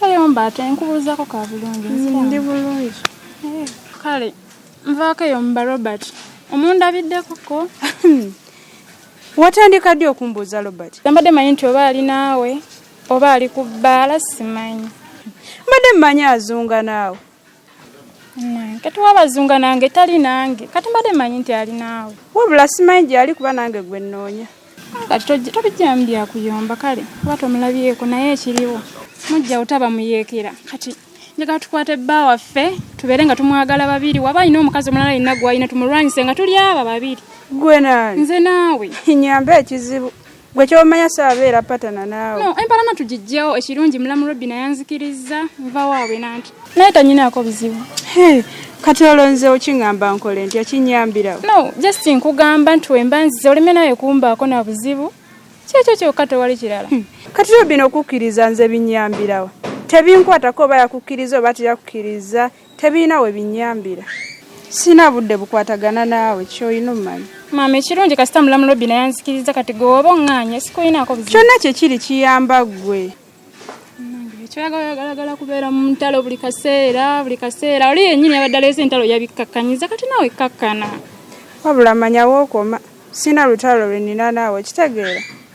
Tayomba ate nkubuuzako ka bulungi nziramu. Ndi bulungi. Eh, Kale nvaako eyo mba Robert. Omundabiddeko ko. Watandika ddi okumbuuza Robert? Mbadde manyi nti oba ali naawe oba ali ku bbaala simanyi. Mbadde mmanyi azunga naawe. kati wabazunga nange tali nange kati mbadde manyi nti ali naawe wabula simanyi gyali kuba nange gwe nnoonya kati tobijjamu byakuyomba kale kuba tomulabyeko naye ekiriwo mujja utaba muyeekera kati njagala tukwate bba waffe tubeere nga tumwagala babiri waba alina omukazi omulala alina gwalina tumulwanyise nga tuli aba babiri gwe nani nze naawe nyamba ekizibu gwe kyomanya saabeera patana naawe no empalana tugijjawo ekirungi mulamu robbi nayanzikirizza nva waabwe nanti naye tanyinaako bizibu kati olonzewo kiŋamba nkole nti akinyambirawo no just nkugamba nti wemba nzize oleme nawe kumbaako na buzibu kyekyo kyokka tewali kirala hmm. kati robbi nokukkiriza nze binyambirawo tebinkwatako oba yakukkiriza oba teyakukkiriza Tebirina we binnyambira. Sirina budde bukwatagana naawe ky'olina ommanyi. Maama ekirungi kasita mulamu lobbi naye anzikiriza kati gwe wooba oŋŋaanye sikulinaako buzibu. Kyonna kye kiri kiyamba ggwe. kyoyagala oyagalagala kubeera mu ntalo buli kaseera buli kaseera oli yennyini yabadde aleese entalo yabikkakkanyiza kati naawe kkakkana wabula manya wookoma sirina lutalo lwe nnina naawe kitegeera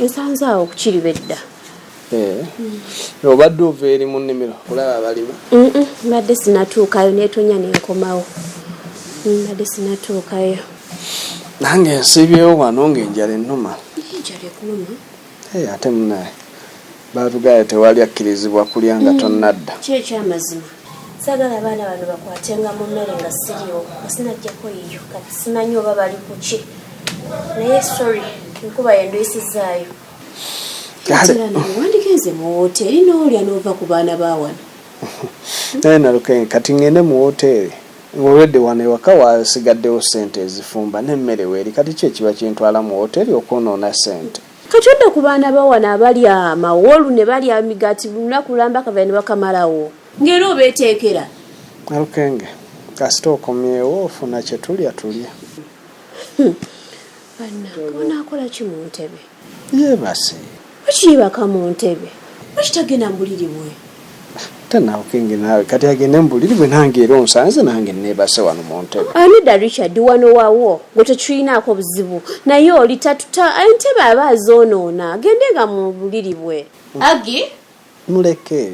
nsanze awo kukiri bedda eh. obadde ova eri mu nnimiro kulaba abalima mbadde sinatuukayo netonya nenkomawo mbadde sinatuukayo nange nsibyewo wano ngaenjala ennuma ate munaye Batugaaya tewali akkirizibwa kulya nga tonnadda. Kyo ekyamazima. Sagala abaana bano bakwatenga mu mmere nga siriwo kasi najjako yiyo kati simanyi oba bali kuki naye sorry enkuba yenduyisizaayo wandigenze mu woteeri n'olya n'ova ku baana ba wano naye nalukenge kati ngende mu woteeri olwedde wano ewaka wasigaddewo sente ezifumba n'emmere weeri kati ki ekiba kintwala mu woteeri okwonoona sente Kati odda ku baana bawano abalya mawolu ne balya amigaati lunaku lamba kavera ne bakamalawo. Nga era obeteekera. Nalukenge kasita okomyewo ofuna kye tulya tulye. Hmm. Bannange onaakola ki mu ntebe? Yeebase. Lwaki yeebaka mu ntebe? Lwaki tagenda mu buliri bwe? Tanawukingi naawe kati agende mubuliri bwe nange era onsanze nange nebase wano muntebe. Anida Richard wano wawo gwe tetuyinaako buzibu naye oli tatuta entebe aba azonoona agende nga mubuliri bwe. Agi. Muleke.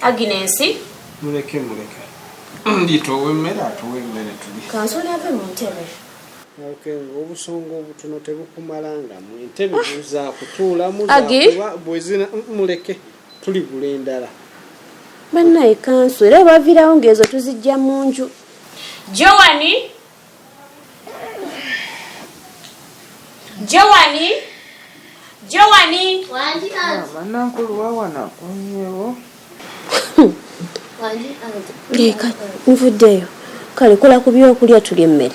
Agi nensi. Muleke muleke. Ndito owemmere atuwe emmere tuli. Kansoli ave mu ntebe. obusonga obutono tebukumalangamu entebe ah. zakutuulamu bwezina muleke tuligula endala. Banaye kanso era webavirawo nga ezo tuzijja munju. Joani Joani Joani Wanji kanso. Ah, Bana nkulu wawana kunyewo. Wanji kanso. Leka nvudeyo kale kola kubyokulya tulye mmere.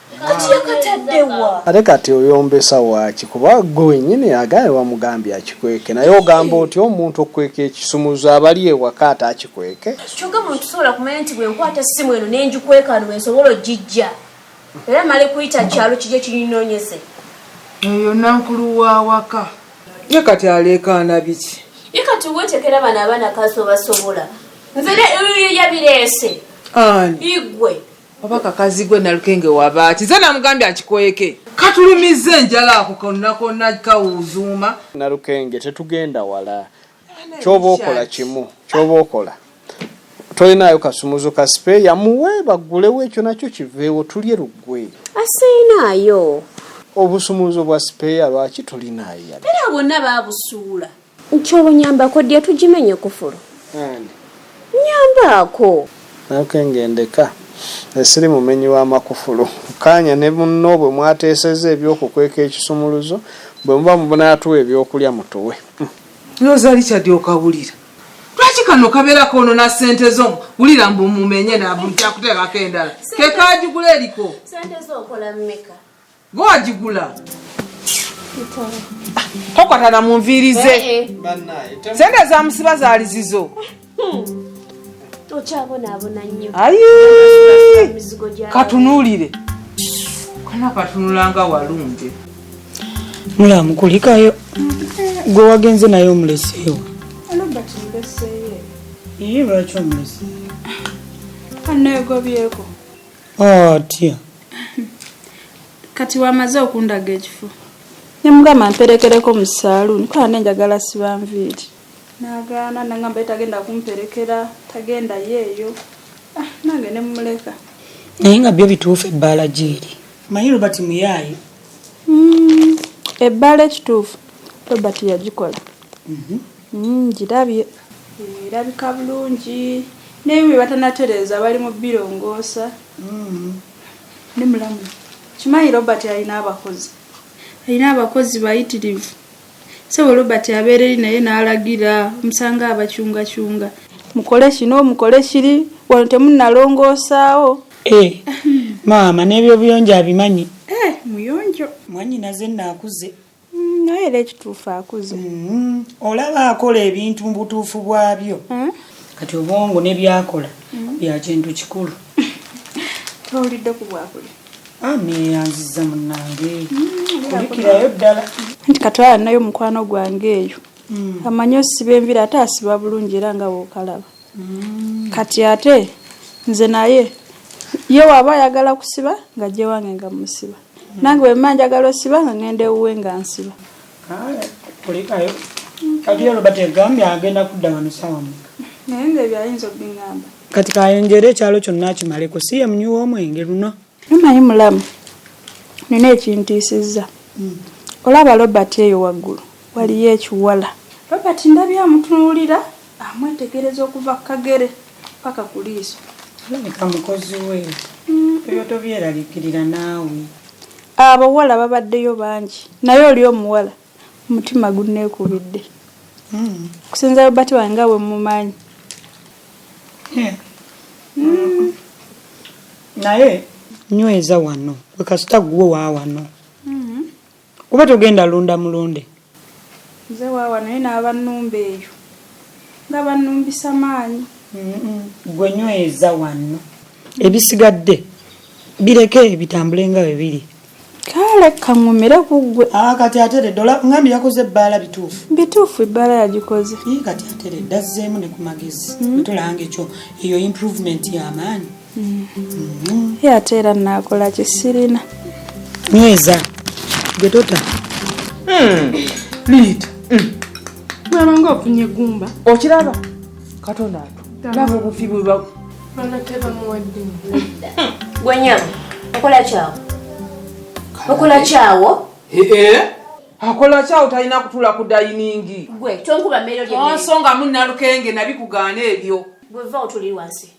ate kati oyombesa waaki kuba gwe wenyini agaye wamugambye akikweke naye ogamba oti omuntu okukweka ekisumuzo abali ewaka ate akikweke kyoka muntu sobola kumanya nti bwenkwata simu eno nenjikwekano wensobola ojijja era male kuyita kyalo kija kinyinonyeze eyo nankulu wawaka ye kati aleekaana biki ye kati wetekera bano abaana kazi obasobola nze yabireese ani igwe oba kakazi gwe nalukenge wabaaki nze namugambye akikweke katulumiza enjala ako konna konna kawuzuuma nalukenge tetugenda wala kyoba okola kimu kyoba okola tolinayo kasumuzo ka sipeeya muwe baggulewo ekyo nakyo kiveewo tulye luggwe asiinaayo obusumuzo bwa sipeeya lwaki tulinayo era bonna babusuula Nkyolo nyambako dia tujimenye kufulu nyambaako. Ok ngende ka nze siri mumenyi wa makufulu. Kkaanya ne munno bwe mwateesezza eby'okukweka ekisumuluzo, bwe muba munaatuwa ebyokulya mutuwe. Lwoza Richard okawulira. Lwaki kano kabera konona sente zo wulira mbu mumenye nabuja kutekako endala kekajugula eliko. Sente zo okola meka. Gwe wagigula? Tokwatana mu nviiri ze. Eh, eh. Sente ezamusiba zaali zizo. Okyabonaabona nnyo. Ayi! Katunuulire. Kana katunula nga walungi. Mulamu kulikayo. Gwe wagenze naye omuleseewo. Robert muleseeyo. Iye lwaki omuleseeyo? Anneegobyeko. atya kati wamaze okundaga ekifo nemugamba mperekereko mu saluuni kola nenjagala siba nviiri nagaana nangamba ye tagenda kumperekera tagenda yeeyo ah, nange nemumuleka naye nga byo bituufu ebbaala gyeeri manyi robert muyaayi hmm, ebbaala ekituufu robert yagikola mhm. hmm, girabye Erabika bulungi naye bwebatanatereeza bali mu birongoosa. Ndi mulamu. Kimanyi Robert alina abakozi. Alina abakozi bayitirivu. Ssebo Robert abeera eri naye n'alagira omusango abakyungacunga. Mukole kino mukole kiri wano temunnalongoosaawo. Eh maama n'ebyobuyonjo abimanyi? Eh muyonjo. Mwannyinaze nno akuze. naye era ekituufu akuze mm-hmm. olaba akola ebintu mu butuufu bwabyo eh? kati obwongo ne byakola mm-hmm. bya kintu kikulu towulidde ku bwakuli aneyanziza ah, munange mm-hmm. kulikirayo ddala nti katwala nayo omukwano gwange eyo mm. amanyi osiba envira ate asiba bulungi era nga bwokalaba mm. kati ate nze naye ye waaba ayagala kusiba nga gyewange nga musiba nange wemba njagala osiba nga ngenda ewuwe nga nsiba kulikayo kati ero bategambye agenda kudda wano sawa mu naye nga ebyo ayinza okubingamba kati kayenjera ekyalo kyonna kimaleko si yemunyuwa omwenge luno numanyi mulamu nina ekintiisizza hmm. olaba robert eyo waggulu waliyo ekiwala robert ndabye amutunuulira Amwetegereza okuva ku kagere paka ku liiso. Alabika mukozi we. Ebyo tobyeraliikirira naawe. Abawala babaddeyo bangi naye oli omuwala omutima gunneekubidde. Okusinza Robert wange nga bwe mmumanyi. Naye. Nyweza wano. Gwe kasita ggwo wa wano. Kuba togenda lunda mulonde. Nze waawa naye naaba numba eyo nga banumbisa maanyi. Gwe nyweza wanno. Ebisigadde bireke bitambule nga bwe biri. Kaale kaŋumire ku ggwe. Aa ah, kati ateredde ola ngambi yakoze ebbaala bituufu. Bituufu ebbaala yagikoze. Ii kati ateredde azzeemu ne ku magezi. Mm. Tolanga ekyo eyo improvement y'amaanyi. ye ate era naakola kisirina nyweza gwe tota hmm. liita hmm. bwaba nga ofunye gumba okiraba katonda atu laba obufi bweba gwenyama okola kyawo okola kyawo eh, eh. akola kyawo talina kutula ku dayiningi gwe tonkuba mmeero lyensonga munnalukenge nabikugaana ebyo gweva otuli wansi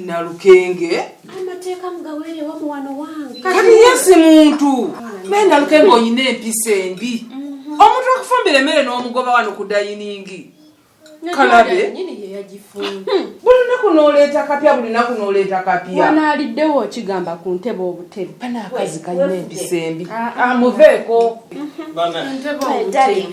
nalukenge amateeka mugawere wamuwano wange kati yesi muntu naye nalukenge oyina empisa embi mhm. omuntu akufumbira emmere n'omugoba wano ku dayiningi kalabe buli lunaku noleeta kapya buli lunaku noleeta kapya wanaaliddewo okigamba ku ntebe obutebe banaakazi kalina empisa embi amuveeko ah, mhm.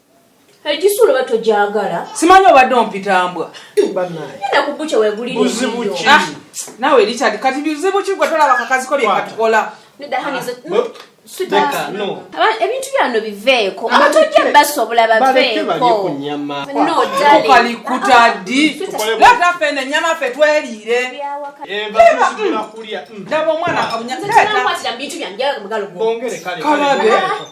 Egisu olaba togyagala. Simanyi obadde ompita mbwa. Nina kubuche wegulire. Buzibu ki? Ah, nawe Richard kati bizibu ki gwe tolaba kakazi ko bye katukola. Nida hani ah, zo. ebintu byano biveeko aba tojja basobola baveekokalikutadilataffena enyama ffe tweriire omwana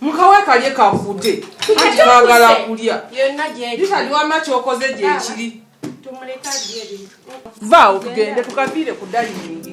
mukawe kalye kakude anti bagala kulya yitaliwama kyokoze gyekiri vaawo tugende tukaviire ku dayiningi